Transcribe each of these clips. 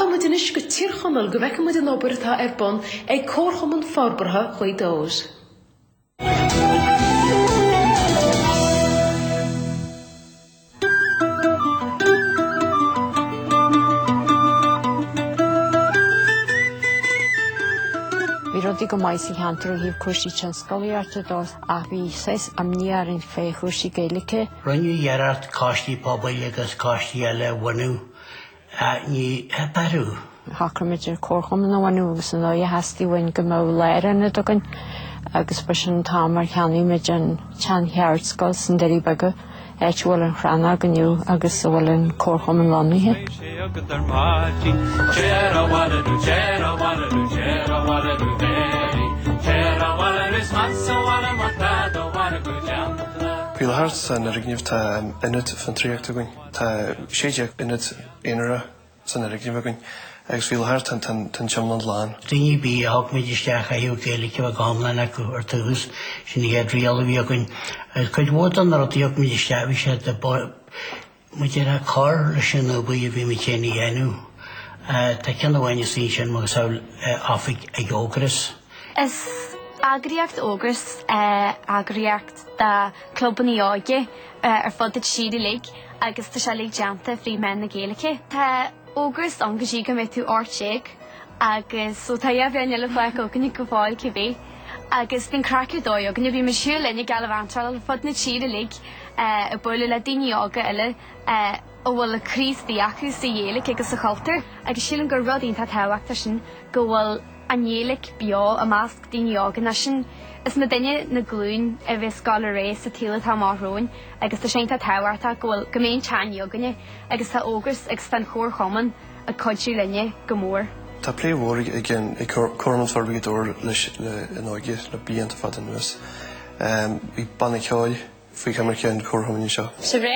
Rachaidh muid anois go Tír Chonaill go bhfeice muid an obair atá ar bun ag Comharchumann Forbartha Ghaoth Dobhair. Bhí rudaí go maith sa cheantar ó thaobh cúrsaí tionsclaíochta de ach bhí saghas imní orainn fé chúrsaí Gaeilge. Rinneadh iarracht coistí pobail agus coistí eile a bhunú Ní h-athruithe. Shocraigh muid ar comharchumann a bhunú agus an dóigh a theastaigh uainn go mbeadh lárionad againn agus ba sin an t-am ar cheannaigh muid an tsean-cheardscoil sna Doirí Beaga, áit a bhfuil an Chrannóg inniu agus a bhfuil an comharchumann lonnaithe. Faoi láthair san fhoirgneamh tá Ionad Fiontraíochta againn. Tá 16 aonad aonair san fhoirgneamh againn agus faoi láthair tá an t-iomlán lán. Daoine ar bith a thug muid isteach chaithfeadh Gaeilge a bheith go hiomlán acu ar dtús, sin an chéad riail a bhí againn. Agus cuid mhór de na rudaí a thug muid isteach bhí siad, muid ag cur leis an obair a bhí muid féin a dhéanamh. Tá ceann amháin acu sin, macasamhail oifig ag Ógras. Is eagraíocht Ógras é eagraíocht de clubannaí óige ar fud na tíre uilig agus tá sé uilig déanta fríd mheán na Gaeilge. Tá Ógras ann go dtí go mbeidh tú ocht déag agus so tá dhá bhliain eile fágtha againne go fóill cibé agus bíonn craic ar dóigh againne. Bhí muid ag siúl linn go Gaillimh An Trá Lí ar fud na tíre uilig ag bualadh le daoine óga eile. a bhfuil an-spéis acu sa Ghaeilge agus sa chultúr, agus sílim gur rud iontach tábhachtach sin go bhfuil an Ghaeilge beo i measc daoine óga nó sin is muidinne na glúin a bheidh ag gabháil ar aghaidh sa tsaol atá amach romhainn agus tá sé iontach tábhachtach go bhfuil go mbeidh an teanga againne agus tá Ógras agus tá an Comharchumann ag cuidiú linne go mór. Tá plé mhór againn ag Comharchumann Forbartha Ghaoth Dobhair leis leis an óige le blianta fada anuas. Bhí banna ceoil faoi choimirce an Chomharchumainn anseo. Sa ré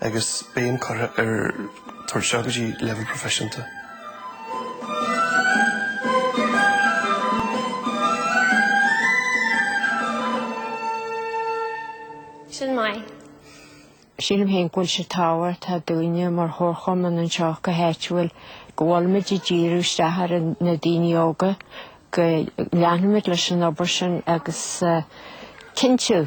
agus béim curtha ar tabhairt isteach go dtí leibhéal proifisiúnta. Sin maith. Sílim féin go bhfuil sé tábhachtach dúinne mar chomharchumann anseo go háitiúil go bhfuilimid ag díriú isteach ar na daoine óga, go leanfaimid leis an obair sin agus cinntiú,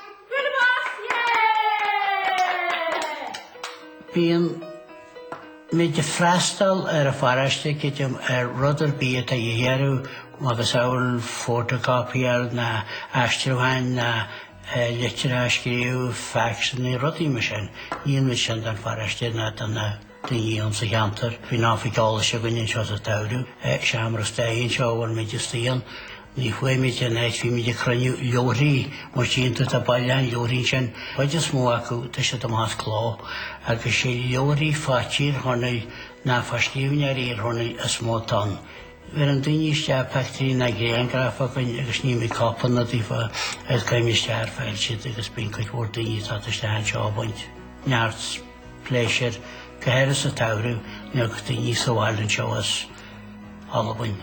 Bíonn muid ag freastal ar an pharóiste i dtaobh rud ar bith atá siad a iarraidh macasamhail photocopier ná aistriúcháin ná litreacha a scríobh, facs, ná rudaí mar sin. Níonn muid sin don pharóiste ná do na. do dhaoine sa cheantar. Faoin am bheidh eolas againn anseo sa tsamhradh, seomra staire anseo a bhfuil muid istigh ann. Ní chuafaimid ar an áit, bímid ag cruinniú leabharthaí, mar sin tá bailiúchán leabharthaí ansin, chuid is mó acu, tá siad amach as cló, agus sé leabharthaí fá Thír Chonaill ná fá scríbhneoirí Thír Chonaill is mó atá ann. Bheireann daoine isteach pictiúirí ná grianghraif chugainn agus níomid cóipeanna daofa agus cuirimid isteach ar file iad agus bíonn cuid mhór daoine ag teacht isteach anseo ag baint. Neart. pléisiúr, go háirithe sa tsamhradh nuair atá daoine sa bhaile anseo as Albain,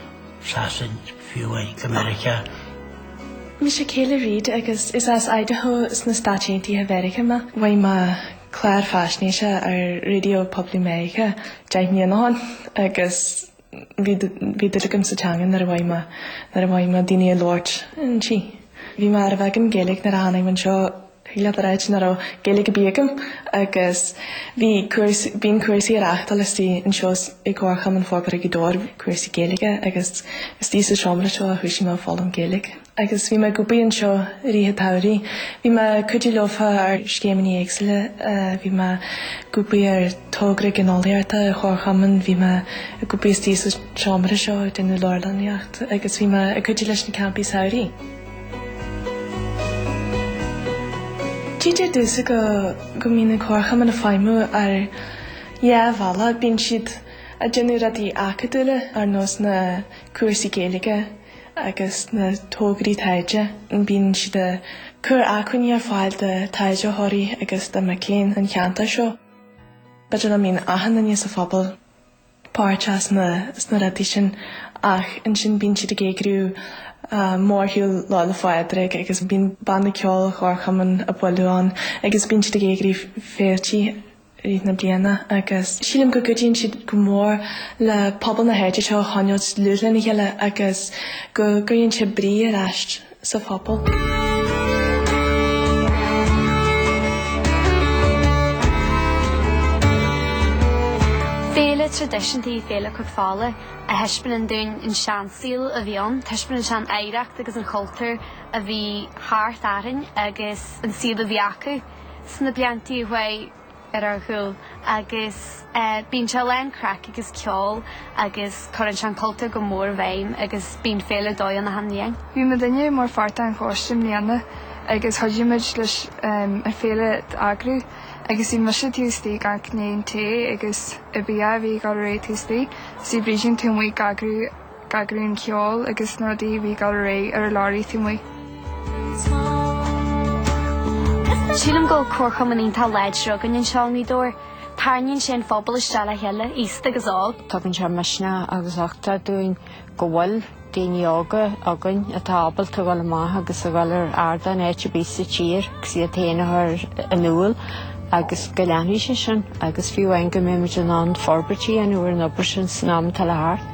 Sasain, fiú amháin, go Meiriceá. Mise Kayla Reed agus is as Idaho sna Stáit Aontaithe Mheiriceá mé. Mhothaigh mé clár faisnéise ar Raidió Poiblí Mheiriceá deich mbliana ó shin agus Bhí bhí dúil agam sa teanga nuair a mhothaigh mé nuair a mhothaigh mé daoine ag labhairt inti. Bhí mé ar bheagán Gaeilge nuair a tháinig mé anseo thig leat a ráit nach raibh Gaeilge ar bith agam agus bhí cúrs bíonn cúrsaí á reáchtáil istigh anseo i gComharchumann Forbartha Ghaoth Dobhair cúrsaí Gaeilge agus istigh sa seomra seo a thúisigh mé ag foghlaim Gaeilge. agus bhí mé ag obair anseo i rith an tsamhraidh. Bhí mé ag cuidiú leofa ar scéimeannaí éagsúla, bhí mé ag obair ar thogra gineolaíochta an Chomharchumainn, bhí mé ag obair istigh sa seomra seo ag déanamh leabharlannaíocht agus bhí mé ag cuidiú leis na campaí samhraidh. Títear domhsa go mbíonn an Comharchumann ag feidhmiú ar dhá bhealach, bíonn siad ag déanamh rudaí acadúla ar nós na cúrsaí Gaeilge, agus na tograí taighde, bíonn siad ag cur acmhainní ar fáil do taighdeoirí agus do mhic léinn an cheantair seo. B'fhéidir nach mbíonn achan duine sa phobal páirteach sna rudaí sin ach ansin bíonn siad ag eagrú mórshiúl Lá 'le Phádraig agus bíonn banna ceoil an Chomharchumainn ag bualadh ann agus bíonn siad ag eagrú féiltí thríd na bliana agus sílim go gcuidíonn siad go mór le pobal na háite seo a choinneáilt dlúth lena chéile agus go gcuireann siad brí ar ais sa phobal. Féile traidisiúnta í Féile Chnoc Fola, a thaispeánann dúinn an seansaol a bhí ann, taispeánann sé an oidhreacht agus an cultúr a bhí thart orainn agus an saol a bhí acu. sna bliantaí a chuaigh ar ár gcúl agus bíonn sé lán craic agus ceol agus cuireann sé an cultúr go mór i bhfeidhm agus bíonn féile ar dóigh ann achan bhliain. Bhí muidinne mar pháirt den choiste i mbliana agus chuidigh muid leis an féile a eagrú agus bhí mise taobh istigh ag amharc i ndiaidh an tae agus an bia a bhí ag gabháil ar aghaidh taobh istigh, is bhí Brídín taobh amuigh ag eagrú. eagraíonn ceol agus na rudaí a bhí dul ar aghaidh ar an leoraí taobh amuigh. Sílim go bhfuil comharchumann iontach láidir againn anseo i nGaoth Dobhair. Tarraingíonn sé an pobal isteach le chéile, aosta agus óg. Tugann sé misneach agus uchtach dúinn go bhfuil daoine óga againn atá ábalta a dhul amach agus a dhul ar ardáin áit ar bith sa tír agus iad féin a chur in iúl agus go leanfaidh sé sin agus fiú amháin go mbeidh muid in ann forbairtí a dhéanamh ar an obair sin san am atá le theacht.